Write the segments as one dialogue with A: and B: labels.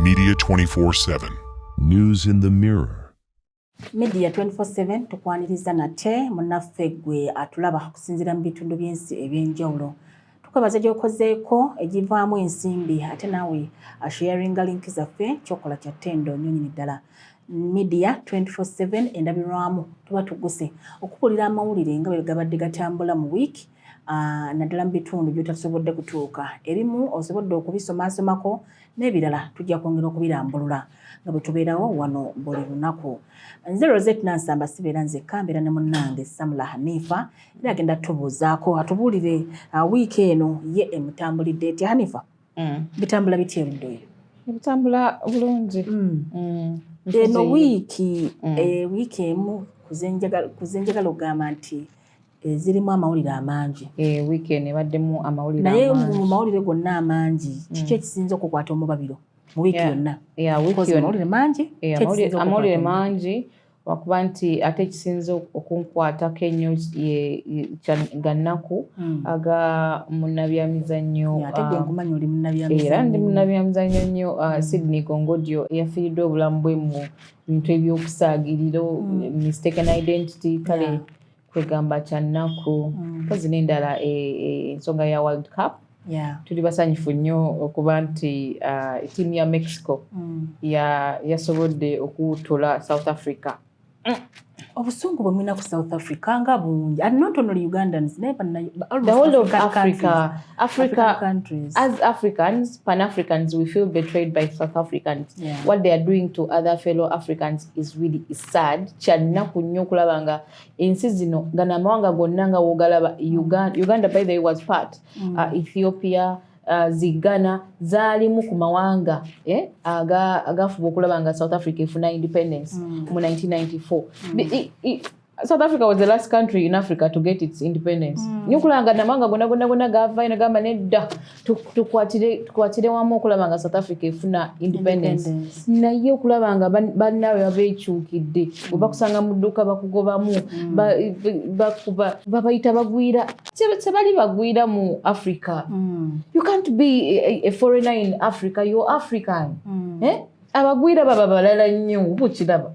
A: Media 24-7. News in the Mirror. media 24/7
B: tukwaniriza nate munaffe gwe atulaba okusinziira mu bitundu by'ensi eby'enjawulo tukwebaza gyokozeeko egivaamu ensimbi ate naawe asharinga link zaffe kyokola kya ttendo nyo nyini ddala media 247 endabirwamu tuba tuguse okubulira amawulire nga bwe gabadde gatambula mu wiiki ah, naddala mu bitundu byotasobodde kutuuka ebimu osobodde okubisomasomako n'ebirala tujja kwongera okubirambulula nga bwe tubeerawo wano buli lunaku nze rosette nansamba sibeera nzekka mbeera ne munnange samula hanifa era agenda tubuuzaako atubuulire uh, wiiki eno ye emutambulidde etya hanifa mm. bitambula bitya erudda oyo ebitambula
C: bulungi mm. mm.
B: eno wiiki eh, wiiki emu kuzenjagala okugamba nti eh, zirimu amawulire amangi eh, wiiki eno ebaddemu
C: amawulire naye mu mawulire
B: gonna
C: amangi
B: kiki ekisinza okukwata omubabiro mu wiiki yonna amawulire mangi amawulire
C: mangi wakuba nti ate ekisinza okunkwatako ennyo ga nnaku hmm. aga munabyamizannyo
B: um, era ndi munabyamizannyo
C: nnyo uh, hmm. sydney gongodio eyafiiridde obulamu bwe mu bintu ebyokusaagiriro hmm. mistaken identity kale kwegamba kya nnaku mpozi mm. n'endala e, e, ensonga ya world cup tuli basanyufu nnyo okuba nti uh, tiimu ya mexico mm. yasobodde okuwutula south africa mm.
B: obusungu bwe mulina ku south africa nga bungi and not only ugandans naye the whole
C: of africa africa countries
B: as africans
C: pan africans we feel betrayed by south africans yeah. what they are doing to other fellow africans is really sad kyannaku nnyo okulaba nga ensi zino gano amawanga gonna nga wogalaba uganda, uganda by the way was part mm. uh, ethiopia uh, zigana zaalimu ku mawanga eh, agafuba aga okulaba nga south africa efuna independence mm. mu 1994 mm. I, I, south africa was the last country in africa to get its independence mm. nyokulanga namawanga gona gona gona gavayo nagamba nedda tukwatire wamu okulaba nga south africa efuna independence naye okulaba nga bannaabwe babeekyukidde mm. webakusanga mu dduuka bakugobamu mm. babayita bagwira tebali bagwira mu africa mm. you can't be a foreigner in africa your african eh? abagwira baba balala nnyo bukiraba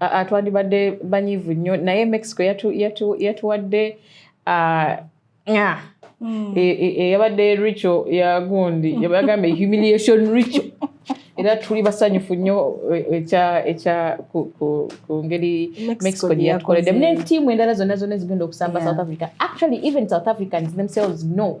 B: Ah, twandibadde
C: banyivu nnyo naye mexico yatuwadde ah, ah, hmm. e, e, e, yabadde richo yagundi yagamba humiliation richo era tuli basanyufu nnyo ekya ku ngeri mexico gye yatukoledde mu netiimu endala zonna zonna ezigenda okusamba south africa actually even south africans themselves know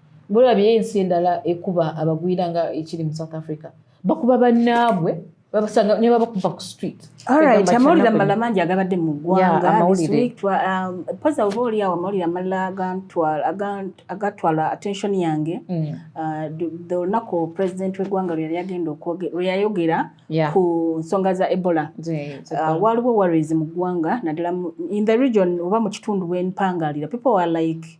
C: bulabye ensi endala ekuba abagwira nga ekiri mu south africa bakuba bannaabwe babasanga ne babakuba ku street alright amawulire
B: amalala mangi agabadde mu ggwanga um, poza oba oli awo amawulire amalala agatwala attention yange mm. uh, the olunaku president w'eggwanga lwe yali agenda lwe yayogera ku nsonga za ebola uh, waliwo worries mu ggwanga naddala in the region oba mu kitundu bwempangaalira people are like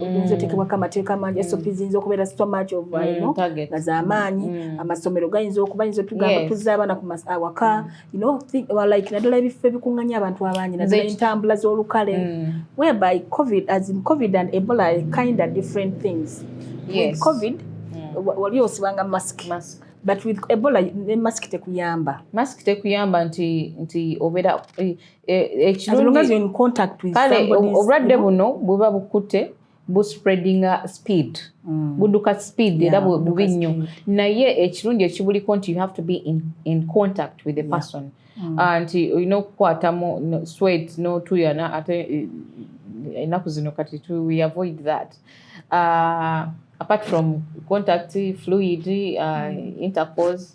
B: oyinza mm. otekebwako amateeka amangi mm. sop ziyinza okubeera so much of mm, ino nga zamaanyi amasomero gayinza okuba yinza otugamba tuzza abaana ku awaka like naddala ebifo ebikunganya abantu abangi naddala entambula z'olukale whereby covid as in covid and ebola are kind of different things with covid wali osibanga mask but with ebola ne mask tekuyamba mask tekuyamba
C: nti nti obeera eh, E,
B: kale obulwadde buno
C: buba bukute bu spreading uh, speed mm. buduka speed era bubi nnyo naye ekirungi ekibuliko nti you have to be in, in contact with the person mm. uh, nti olina okukwatamu sweat notuyana ate eh, enaku zino kati to we avoid that uh, apart from contact fluid uh, mm. intercourse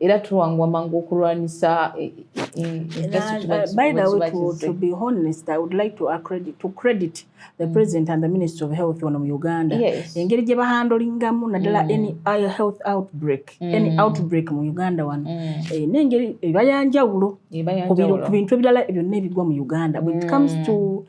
B: era tuwangwa mangu okulwanyisa eh, eh, eh, by the way to, to be honest i would like to accredit, to credit the mm. president and the minister of health wano mu uganda yes. engeri gye bahandolingamu naddala mm. any uh, health outbreak mm. any outbreak mu uganda wano mm. e, nengeri ebayanjawulo ku bintu ebirala byonna ebigwa mu uganda when it comes mm. to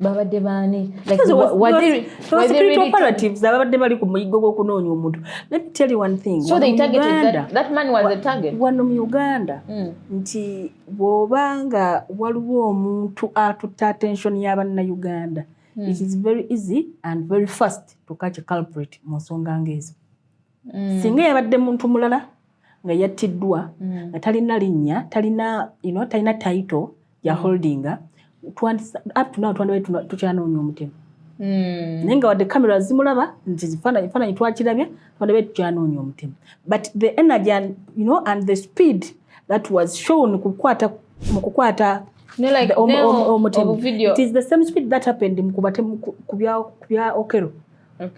C: babadde baani
B: ababadde bali ku muyiggo gw'okunoonya omuntu wano
C: mu uganda
B: hmm. nti bw'oba nga waliwo omuntu atutta attention ya bannayuganda hmm. it is very easy and very fast to catch a culprit mu nsonga ng'ezo mm. singa yabadde muntu mulala nga yattiddwa mm. nga talina linnya talina you know, talina taito ya mm. holdinga up to now twandibae tukyanoonya omutemu Mm. naye nga wadde kamera zimulaba nti ekifaananyi twakirabye twandibae tukyanoonya omutemu but the energy and, you know, and the speed that was shown kukwata mu kukwata omutemuobuvideo it is the same speed that happened mu kubatemu ku bya okero okay.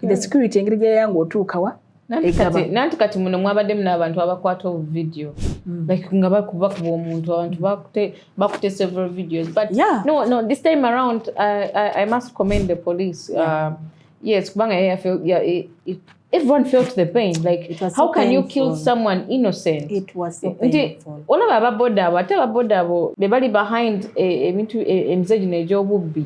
B: the security engeri gyeyanga otuukawa nanti
C: kati muno mwabaddemu n'abantu abakwata obuvidiyo mm. like nga bakuba kuba omuntu abantu bakute several videos but yeah. no, no, this time around I, I, I must commend the police yeah. uh, yes kubanga everyone felt the pain like it was how so can painful. you kill someone innocent it was so
B: painful olaba ababoda abo
C: ate ababoda abo bebali behind ebintu e, e, emize gino egy'obubbi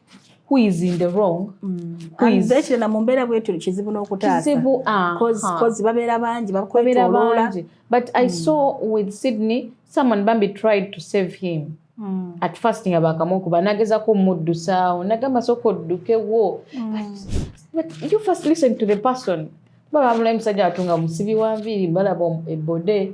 C: who is in the wrong mm. who is that na mumbera bwetu
B: kizibu nokutasa kizibu ah cause ha. cause babera bangi bakwetwa lola but i mm.
C: saw with sydney someone bambi tried to save him mm. at first nga bakamoku banageza ko muddu sawo nagamba soko duke wo mm. but, but you first listen to the person baba mulayi musajja atunga musibi wa nviiri balaba ebode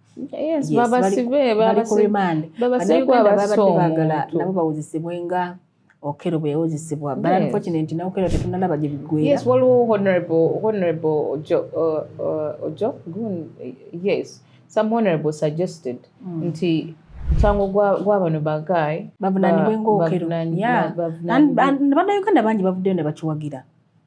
C: nabo
B: bawozesebwe nga okero bwe yawozesebwa but unfortunately na okero tetunalaba gye bigwera yes waliwo honorable
C: honorable ojo uh, uh, ojo gun yes some honorable suggested mm. nti musango gwa bano bagayi bavunanibwe ngaokero
B: bannayuganda bangi bavuddeyo ne bakiwagira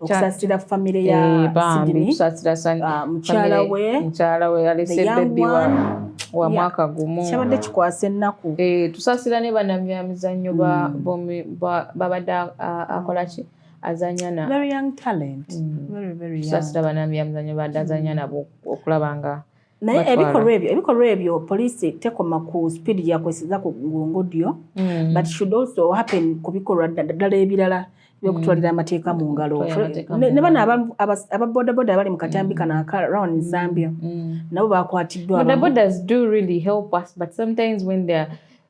B: okusasira famire ya eh, Sydney ah, mukyala we mukyala we alese baby wa wa mwaka gumu kyabadde kikwasa ennaku eh, tusasira ne
C: banamyamizannyo mm. babadde akola ki azanya na very young talent
B: mm. very very young tusasira banamyamizannyo
C: babadde azanya mm. nabo okulaba nga naye ebikolwa
B: ebyo ebikolwa ebyo poliisi tekoma ku speed gyakweseza ku ngodyo mm. but should also happen ku bikolwa ddala ebirala byokutwalira mm. amateeka mu ngalo ne bano aba bodaboda abali mu katambi kano aka round mm. zambia nabo bakwatiddwa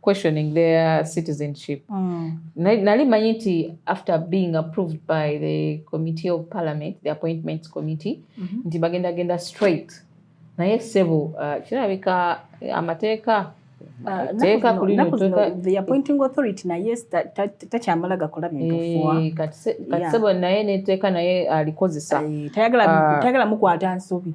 C: questioning their citizenship mm. nali manyi nti after being approved by the committee of parliament the appointments committee mm -hmm. nti bagenda genda straight naye sebo uh, kirabika uh, amateeka uh, teeka kulinoathe
B: appointing authority naye takyamala gakola bintufuwa eh, kati sebo
C: naye neteeka naye alikozesa eh, tayagala
B: mukwata nsobi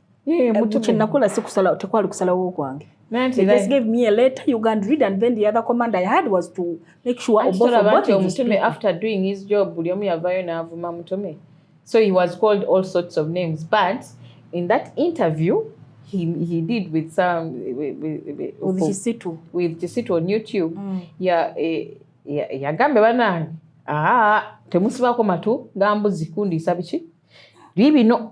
B: Eh, kyenakola sikusala tekwali kusalawo kwange omutume after
C: doing his job buli omu yavayo n'avuma mutume so he was called all sorts of names but in that interview he, he did with some with, with, with Kisitu with Kisitu on YouTube mm. ya eh, yagambe ya banange aa ah, temusibako matu gambuzi kundiisa biki bibino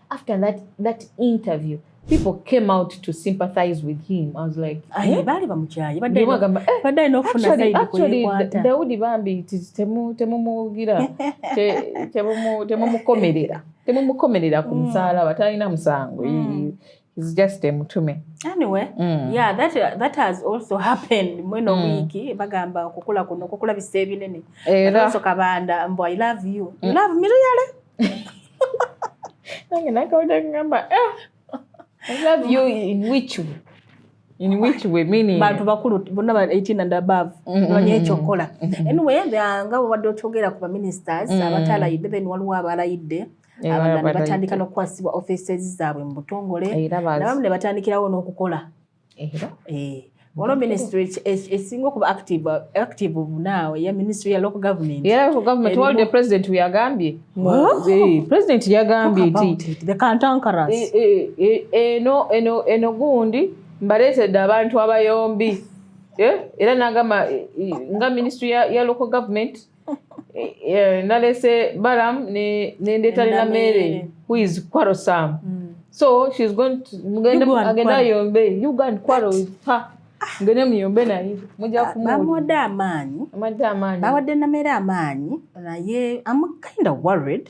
C: after that that interview people came out to sympathize with him i was like ayi eh? bali bamukyaye badde bagamba eh, badde no funa side actually daudi bambi it is temu temu mugira te temu mu temu mukomerera temu mukomerera ku mm. msala batalina msango mm. is just a mutume anyway mm.
B: yeah that that has also happened mweno mm. wiki bagamba okukula kuno okukula bisebinene era so kabanda mbo i love you mm. you love me really
C: nange nakawulira kugamba eh, bantu bakulu bonna ba
B: 18 and above mm-hmm. banya ekyo okukola mm-hmm. anyway nga wabadde okyogera ku baministers mm. abatalayidde then waliwo abalayidde abalala ne batandika n'okukwasibwa offices zaabwe mu butongole nabamu ne batandikirawo n'okukola Eh, olwo ministry esinga okuba active active now ya ministry ya local government era local government wali the
C: president yagambye eh, president yagambye nti the kantankaras
B: eh, eno eno eno
C: gundi mbaleetedde abantu abayombi era nagamba nga ministry ya local government Eh, eh, nalese balam nendeeta ne namere who is kwaro sam mm. so she's going to agenda yombe you go and kwaro with her ngene muyombe naye muja ah, kumubamuwadde amaanyi
B: bawadde namere amaanyi naye am kind of worried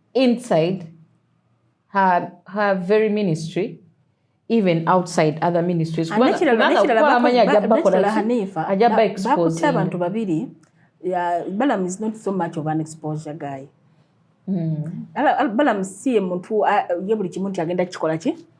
C: inside her, her very ministry even outside other ministries bakutte
B: abantu babiri balam is not so much of an exposure guy mm. balam si ye muntu ye buli kimu nti agenda kikola ki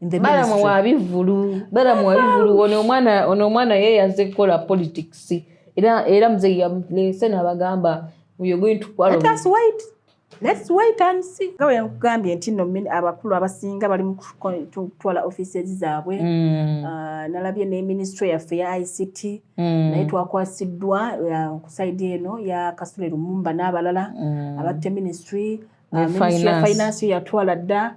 B: balamu wabivulu
C: balamu wabivulu ono omwana ono omwana ye yaze kukola politics era era mzee yamulese nabagamba we are going to quarrel let us wait
B: let's wait and see nga bwe nkugambye nti no abakulu abasinga bali mu kutwala offices zaabwe mm. ah, nalabye ne ministry yaffe ya ict mm. naye twakwasiddwa ah, ku saidi eno ya kasule lumumba n'abalala mm. abatte ministry ah, ministry ya finance yatwala dda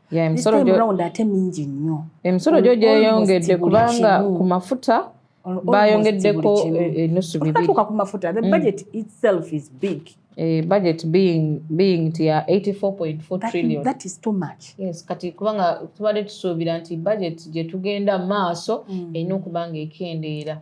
C: ate mingi nnyo emisolo gyo gyeyongedde kubanga ku mafuta bayongeddeko e- enusu bibirituuka ku mafuta the mm. budget
B: itself is big eh, budget
C: being being nti ya 84.4 trillion that is too much
B: yes kati kubanga
C: tubadde tusuubira nti budget gye tugenda maaso mm. erina okuba nga ekendeera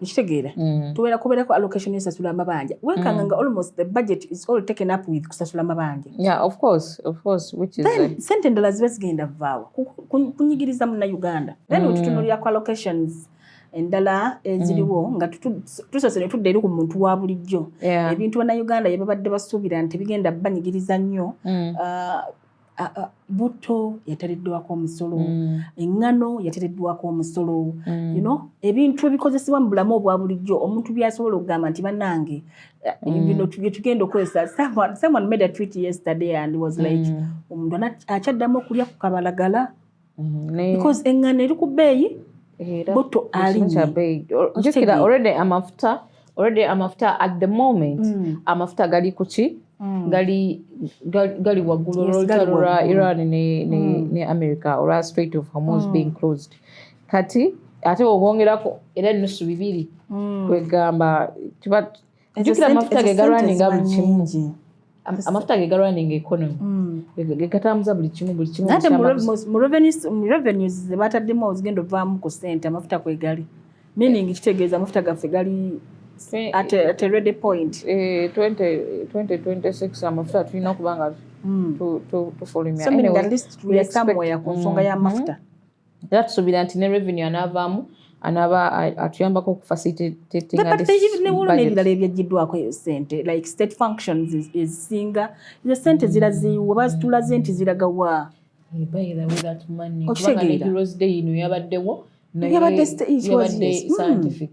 B: mukitegeera mm. tubeera kubeerako allocation esasula amabanja wekanga mm. nga almost the budget is all taken up with kusasula amabanja
C: sente endala ziba
B: zigenda vaawa kunyigiriza muna uganda then mm. wetutunulirako allocations endala eziriwo nga tusose netudda eri ku muntu wa bulijjo ebintu banauganda yebabadde basuubira nti bigenda banyigiriza nnyo uh, butto yatereddwako omusolo mm. eŋŋano yatereddwako omusolo mm. you know ebintu ebikozesebwa mu bulamu obwa bulijjo omuntu byasobola okugamba nti banange eh, mm. bino byetugenda okukozesa someone made a tweet yesterday and was like omuntu akyaddamu okulya ku kabalagala mm-hmm. because engano eri ku bbeeyi butto alinyekira already amafuta already amafuta at the moment mm. amafuta gali kuki Mm. gali gali waggulu olutalo lwa iran ne, ne, mm. ne america olwa straight of hormones mm. being closed kati ate obongerako era nusu bibiri mm. kwegamba jukira amafuta ge galwaninga buli kimu amafuta ge galwaninga economy mm. gegatambuza buli kimu buli kimu ate mu revenues ze bataddemu ozigenda ovaamu ku sente amafuta kwegali meaning kitegeeza amafuta gaffe gali at a ready point 2026 eh, amafuta tulina okuba nga mm. tufulumya so meaning at least we are somewhere ku nsonga mm-hmm. y'amafuta era tusuubira
C: nti ne revenue anaavaamu anaba atuyambako okufasitnebulunebirala
B: ebyajjiddwako eyo sente like state functions ezisinga ezo sente ziraziiwa bazitulaze nti ziragawa
C: okitegeera yabadde hmm.
B: scientific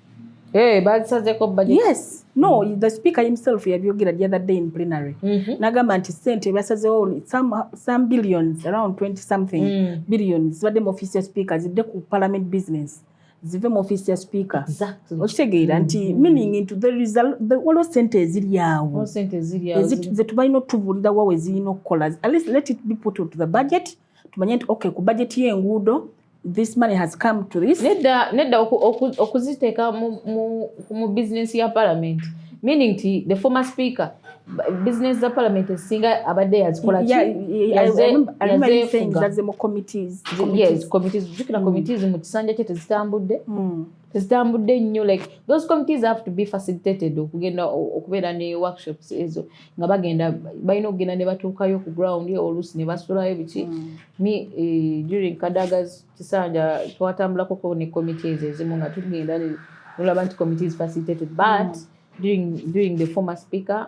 B: Hey, eh,
C: bazisazeko budget. Yes. No, mm. the
B: speaker himself yabyogera the other day in plenary. Mm -hmm. Nagamba nti sente basazewo some some billions around 20 something mm. billions badde mu office ya speaker zidde ku parliament business. zive mu office ya speaker exactly. okitegeera
C: nti mm -hmm.
B: meaning into the result the waliwo sente eziri awo zetubalina otubuulira wa wezirina okukola at least let it be put into the budget mm -hmm. tumanye nti okay ku bajeti y'enguudo this money has come to this nedda nedda
C: okuziteeka mu business ya parliament meaning ti the former speaker business za parliament esinga abadde yazikola
B: jukira
C: committees mu kisanja kye tezitambudde hmm. zitambudde nnyo like those committees have to be facilitated okugenda okubeera ne workshops ezo nga bagenda balina okugenda ne batuukayo ku ground oluusi ne basulayo biki mm. mi eh, during kadaga kisanja twatambulakoko ne committees ezimu nga tugenda nolaba nti committees facilitated but mm. during, during the former speaker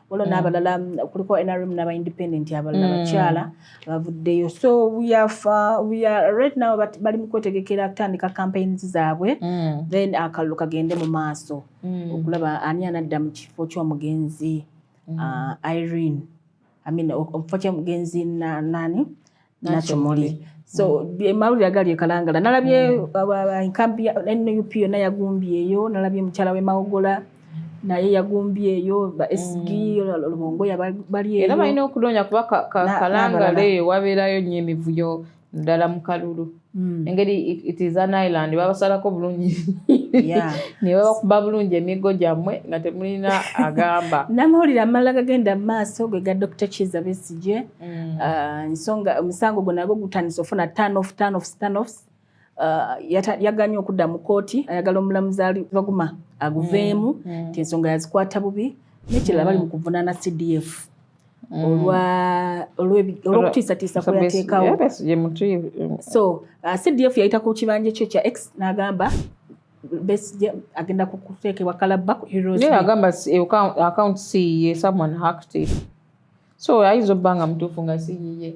B: waliwo mm. n'abalala kuliko nrm n'aba independent abalala mm. bakyala bavuddeyo so right now bali mu kwetegekera kutandika campaigns zaabwe mm. then akalulu kagende mu maaso okulaba ani anadda mu kifo ky'omugenzi uh, irene amina omufo kyomugenzi nani nakyomuli so mawulire agali ekalangala nalabye mm. enkampi ya nup yona yagumbyeyo nalabye mukyala we mawogola naye yagumbye eyo ba sg mm. lubongo yabali eyo era balina okunoonya kuba
C: kalangala eyo wabeerayo nyo emivuyo ddala mu kalulu Hmm. engeri it is an island babasalako bulungi nebabakuba bulungi emiggo gyammwe nga temulina agamba namawulire amala
B: gagenda mu maaso gwe ga dr kiza besigye hmm. uh, nsonga omusango gwe nagwo gutandisa ofuna tanof tanof tanof uh, yaganye okudda mu kooti ayagala omulamuzi ali baguma aguveemu hmm. ti ensonga yazikwata bubi nekirala bali mu kuvunaana cdf mm. olw'okutiisatiisa kweyateekawo so uh, cdf yayita ku kibanja kyo kya x n'agamba Besigye agenda kukuteekebwa kalabba ku agamba
C: akawunti siyiye someone hacked it so ayinza obba nga mutuufu nga siyiye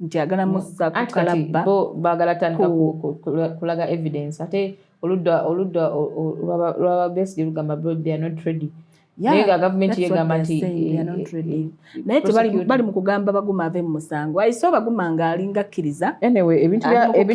B: nti agala musa kukalabba bagala tandika
C: kulaga evidence ate oludda oludda lwaba besdi lugamba bro they are not ready naye nga gavumenti yegamba nti eh, eh,
B: naye tebali mu kugamba baguma ave mu musango ayiso baguma nga alinga akkiriza anyway ebintu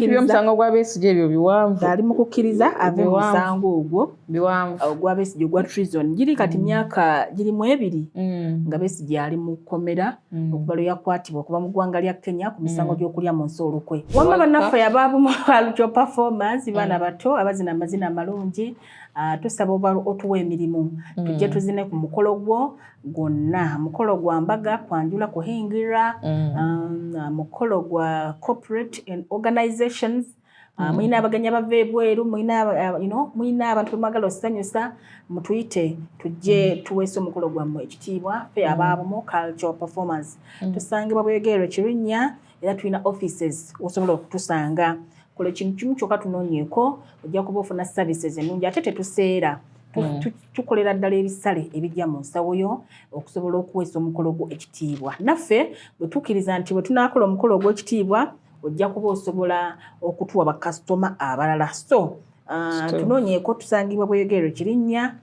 C: byomusango gwa besigi ebyo biwanvu ali mu kukkiriza
B: ave mu musango ogwo biwanvu ogwa
C: besigi ogwa
B: trison giri kati mm. myaka giri mu ebiri mm. nga besigi ali mu kkomera Mm. okuva lwe yakwatibwa okuva mu ggwanga lya kenya ku misango mm. gy'okulya mu nsi olukwe wamma bannaffe abaabumalukyo performance mm. baana bato abazina amazina amalungi ah, tusaba oba otuwa emirimu tujje tuzine ku mukolo gwo gwonna mukolo gwa mbaga kwanjula kuhingira um, mukolo gwa corporate and organizations Ah, mm. mulina abagenyi abava ebweru ah, mulina abantu bemwagala osanyusa mutuyite tujje mm. tuweesa omukolo gwammwe ekitiibwa fe mm. abaabumu cultural performance tusangibwa bwegeero ekirinnya era tulina offices osobola okutusanga kola ekintu kimu kyokka tunoonyeeko ojja kuba ofuna services ennungi ate tetuseera Mm. tukolera ddala ebisale ebijja mu nsawo yo okusobola okuweesa omukolo gwo ekitiibwa naffe bwe tukkiriza nti bwe tunaakola omukolo ogw'ekitiibwa ojja kuba osobola okutuwa bakasitoma abalala so uh, tunoonyeeko tusangibwa bweyogerero kirinnya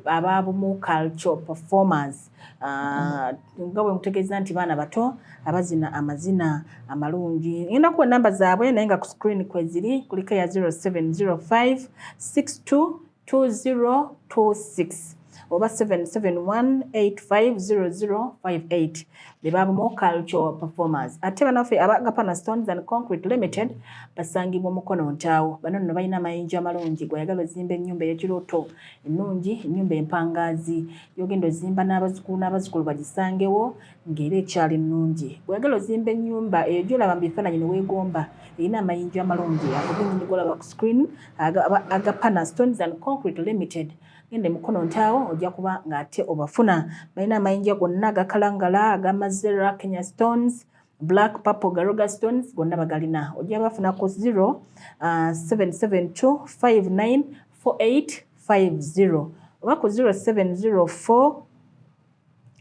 B: ababumu cultural performers ah, nga bwe mutegeeza nti baana bato abazina amazina amalungi ngenda kuwa enamba zaabwe naye nga ku screen kweziri kuliko eya 0705 62 2026 oba 7718500058 be babumu cultural performers ate banaffe aba gapana stones and concrete limited basangibwa omukono ntaawo bano nno balina amayinja amalungi gweyagala ozimba ennyumba eyekirooto ennungi ennyumba empangaazi yogenda ozimba n'abazukulu n'abazukulu bagisangewo ng'era ekyali nnungi. Bw'oyagala ozimba ennyumba eyo gy'olaba mu bifaananyi ne weegomba, erina amayinja amalungi ago gennyini g'olaba ku screen aga, aga Pana Stones and Concrete Limited. Genda e Mukono Ntaawo ojja kuba ng'ate obafuna. Balina amayinja gonna aga kalangala, aga Mazera, Kenya Stones, Black, Purple, Garoga Stones, gonna bagalina. Ojja bafuna ku 0772594850 oba ku 0704.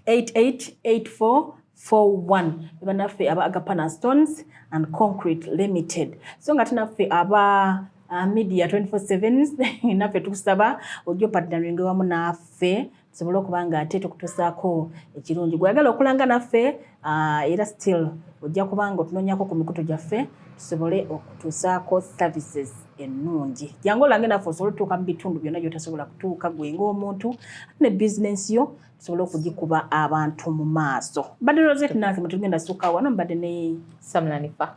B: 888441 banaffe aba agapana stones and concrete limited so nga tinaffe aba uh, media 24 naffe tukusaba ojja opatnaringe wamu naffe tusobole okuba nga ate tukutusaako ekirungi gweagala okulanga naffe Ah, era still ojja kubanga otunonyako ku mikutu gyaffe tusobole okutuusaako services ennungi jangu olange naffe osobole otutuuka mu bitundu byonna gyotasobola kutuuka gwe ngaomuntu ne bizinensi yo tusobole okugikuba abantu mu maaso mbadde roset nange mutugenda sukka wano mbadde ne samulanifa